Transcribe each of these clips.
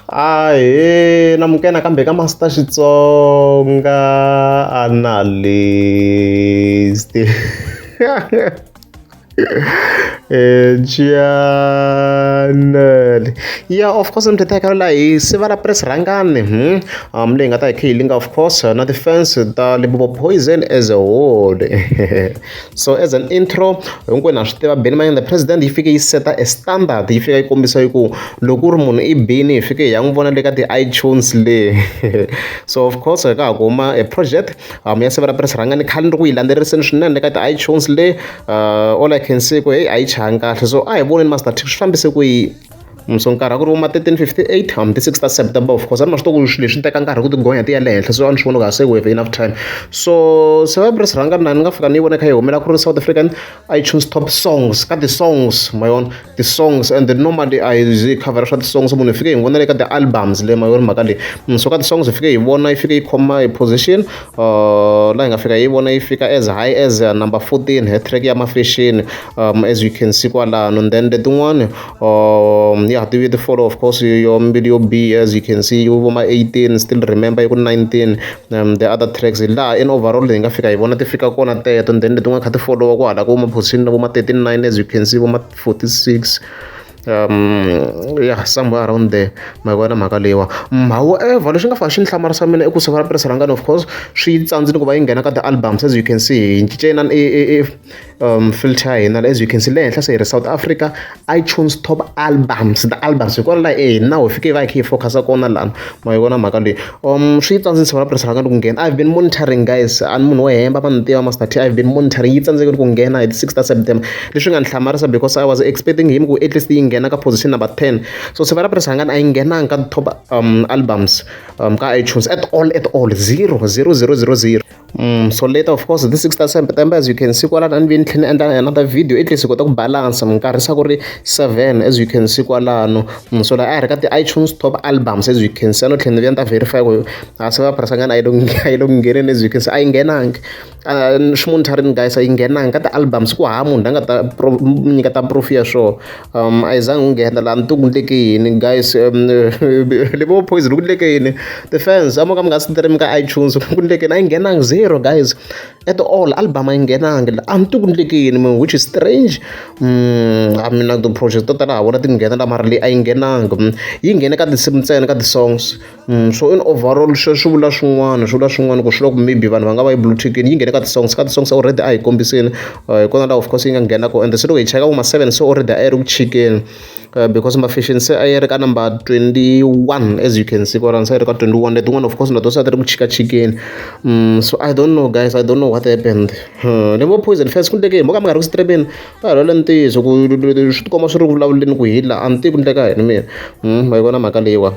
Ahee namuka nakambe ka Master Xitsonga Analyst Channel ya of course ni teka la hi siva la press rhangani hmm? um leyi nga ta hi kha yi linga of course na ti-fans ta Limpopo Poison as a whole so as an intro hinkwenu ha swi tiva bini mayini the president yi fike yi seta a standard yi fika yi kombisa yi ku loko u ri munhu i bini hi fike hi ya n'wi vona le ka ti-itunes le so of course hi ka ha ku huma a project um ya siva ra pirisi rhanga ni khale ni ri ku yi landzeleriseni swinene le ka ti-itunes le uh, all i can see ku heyi a yi chahangi kahle so a hi voneni master t swi fambise ku yi so nkarhi a ku ri vo ma thirteen fifty eight or mi ti six ta September of course a ni ma swi tiva ku swilo leswi swi teka nkarhi ku ti gonya ti ya le henhla so a ni swi vona ku a se we have enough time so se va press rhanga na ni nga fika ni yi vona kha yi humela ku ri South African I choose top songs ka ti-songs ma yona ti-songs and then normally a yi cover swa ti-songs munhu hi fike hi n'wi vona le ka ti-albums le ma yona mhaka leyi so ka ti-songs hi fike hi vona yi fike yi khoma hi position. la hi nga fika hi yi vona yi fika as high as uh, number 14 hi track ya mafesheni um, as you can see kwalano and then letin'wani um, ya ti ti follow of course yo mbili yo b as you can see yi voma 18 still remember yi ku 19 um, the other tracks laha in overall hi nga fika hi vona ti fika kona teto and then letin'wani kha ti followa ku hala ku voma position na voma 39 as you can see voma 46 um ya somewhere around there ma yi vona mhaka leyiwa however lexi nga fane xi ni hlamarisa mina i ku siku ra petirasi ra ngani of course swi yi tsandzile ku va yi nghena ka ti-albums as you can see hi cince inani i i i um filter ya hina as you can see le henhla se hi ri south africa itunes top albums the albums hi kona laha e hina ho fike hi va hi kha hi focus-a kona lana ma yi vona mhaka leyi swi ta ndzi tshovela pressure nakambe ku nghena I've been monitoring guys a ni munhu wo hemba va ni tiva Master T I've been monitoring yi tsandzeke ku nghena hi ti six ta September leswi nga ni hlamarisa because I was expecting him ku at least yi nghena ka position number ten so tshovela pressure yangani a yi nghenanga ka top um albums um ka iTunes at all at all zero zero zero zero zero Mm, so later of course this 6 ta september as you can see kwalano a ni ve ni tlhela ni endla another video at least hi kota ku balansa minkarhi sa ku ri 7 as you can see kwalano mm, so laha a hi ri ka ti-itunes top albums as you can see a no tlhela ni vuya ni ta verify ku a se va phirasangana a yi lo ngheneni as you can see a yi nghenangi ximunitharini guys a yi nghenangi ka ti-albums ku hava munhu la nga ta nyika ta proof ya swona a yi zangi yi nghena laha ni ku ku endleke yini guys ni ngo Poison ku endleke yini ti-fans a mo ka mi nga stream ka iTunes ku endleke yini a yi nghenangi zero guys at all album a yi nghenangi la a ni tivi ku endleke yini mehe which is strange a mina ti-project to tala ha vona ti nghena la mara leyi a yi nghenangi yi nghene ka tinsimu ntsena ka ti-songs. so in overall swi swi vula swin'wana swi vula swin'wana ku swi loko maybe vanhu va nga va yi blue tickini yi nghene ka ti-songs ka ti-songs already a hi kombiseni eh, hi kona laha of course yi nga nghena ko and se loko hi cheka vo ma-seven se already a yi ri ku chikeni Uh, because mafashion se a yi ri ka number 21 as you can see kwalani se a yi ri ka 21 letin'wana of course na to se a ti ri ku chikachikeni um so i don't know guys i don't know what happened uh, ni vo poison fast ku ndlekeni moka mi nga ri ku strebeni va rhwala ntiyiso ku swi tikomba swi ri vulavuleni ku hila a ni tivi ku ndleka yini mina um ma yi vona mhaka leyiwa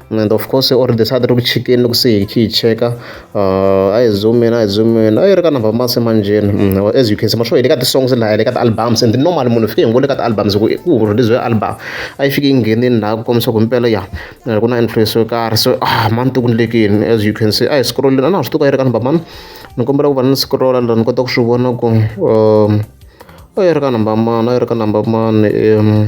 and of course already the side room chicken look see key checker uh i zoom in i zoom in i reckon about mass manjin mm, as you can see masho ileka the songs la ileka the albums and the normal munhu fike ngole ka albums ku ku release album i fike ngenini la ku komisa ku mpela ya eh, ku na influence yo karhi so ah man tu kunlekini as you can see i scroll na na swi tuka irekan baman ni kombela ku va ni scroll la ni kota ku swi vona ku um i reckon about man i reckon about man um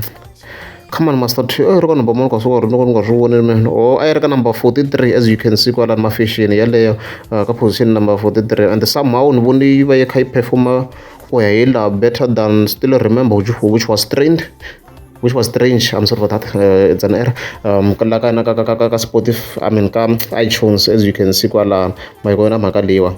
Come on Master T, a yi ri ka number mune ka swiwari loko ni nga swi voni mina. Oh, a yi ri ka number 43 as you can see kwalani mafexeni yaleyo uh, ka position number 43 and somehow ni vone yi va yi kha yi performa ku ya hi laha better than still remember which, which was trained which was strange i'm sorry for that uh, it's an error um ka ka ka ka ka spotify i mean ka itunes as you can see kwalana mayikona mhaka leyiwa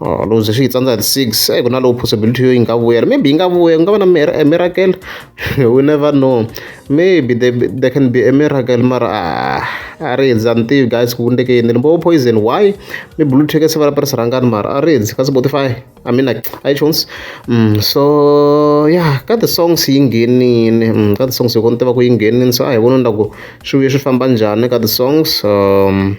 or loko se swi yi tsandza hi six se ku na lowu possibility yo yi nga vuyela maybe yi nga vuya ku nga va na a miracle we never know maybe there, there can be a miracle mara ah, a ri hundzi a ni tivi guys ku endleke yini ni bo poison why mi blue ticket se va ri tirhisa rhangani mara a ri hundzi ka spotify i mean like itunes mm, so yeah ka ti-songs yi nghenini mm, ka ti-songs yi kona tiva ku yi nghenini so a hi voni ni la ku swi vuye swi famba njhani ka ti-songs um,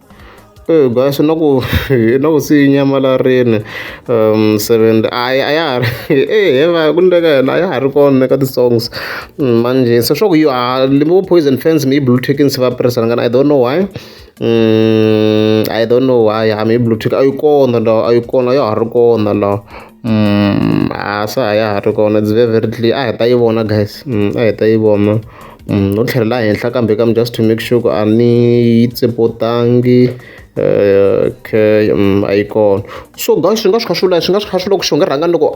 Eyi guys na ku na ku se yi nyamalarile seventy a ya a ya ha ri e he va ku ni le ka yona a ya ha ri kona na le ka ti-songs manjhe se swa ku yi a vo Poison Fans maybe Blue Tick se va tirhisana ngopfu I don't know why I don't know why a yi kona laha a yi kona a ya ha ri kona laha. a swa ha ya ha ri kona deservedly a hi ta yi vona guys a hi ta yi vona no tlhelela henhla kambe kam just to make sure ku a ni yi tsepotangi okay a yi kona so guys swi nga swi kha swi vula swi nga swi kha swi loko xi nga rhanga loko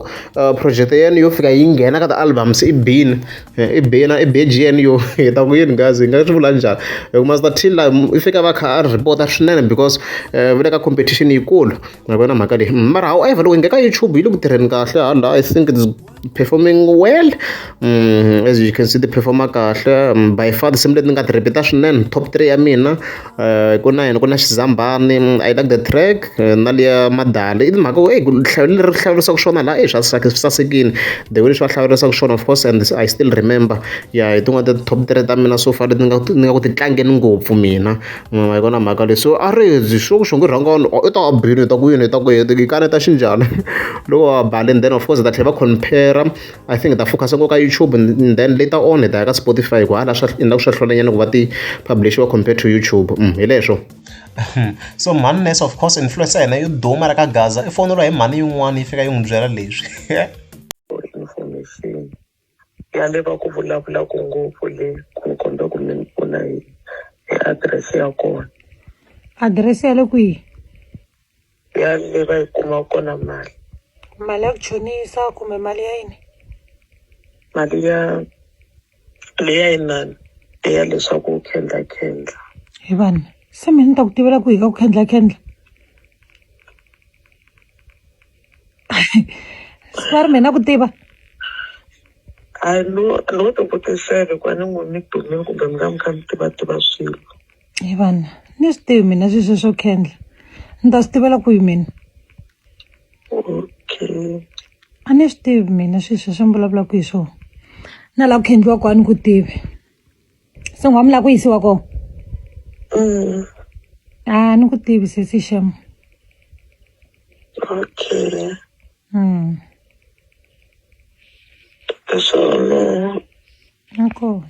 project ya yena yo fika yi nghena ka ti-albums i bini i bina i beji yena yo hi ta ku yini guys hi nga swi vula njhani hi ku must till laha i fika va kha a report-a swinene because va le ka competition yikulu. Ma vona mhaka leyi mm, mara however loko hi nge ka youtube yi le ku tirheni kahle hala i think it's performing well mm, as you can see ti performa kahle mm, by far tinsimu leti ni nga ti repeat-a swinene top three ya mina eh, ku na yena ku na xizambani i like the track eh, na liya madali i timhaka ku hlayo leri hlawurisaka swona laha i swa sasekile the way leswi va hlawurisaka swona of course and i still remember ya hi tin'wana ta top three ta mina so far leti ni nga ku ti tlangeni ngopfu mina Ma yi vona mhaka leyi so a rindzi sure ku xingo i rhanga vanhu or i ta va a bile hi ta ku yini hi ta ku yini i kaneta xi njhani loko va ba le then of course hi ta tlhela va compare I think hi ta focus-a ngopfu ka YouTube and then later on hi ta ya ka Spotify hi ku hala swa endla ku swa hlwelanyana ku va ti publish-iwa compared to YouTube hi leswo so mhani Ness of course influencer ya hina yo duma la ka Gaza i foneliwa hi mhani yin'wana yi fika yi n'wi byela leswi. ya leva ku vulavula ku ngopfu le ku kombe ku mi ni pfuna hi hi adirese ya kona adirese ya le kwihi ya le va yi kuma kona mali mali ya ku chonisa kumbe mali ya yini mali ya leya yinani leya leswaku u khendla khendla hi vanhu se mina ni ta ku tivela ku hi ka ku khendla khendla swa ri mina ku tiva a no no to kotisele kwa ni n'wi mi dumile kumbe mi nga mi kha mi tiva tiva swilo hi vana ni swi tivi mina swi sweswo kendla ni ta swi tivela ku yi mina okay a ni swi tivi mina swi sweswo ni vulavulaka hi swona na laha ku khendliwa kwani ku tivi se n'wa mi lava ku yisiwa kona Mm, a ni ku tivi sesi sham okay mm. swona nakona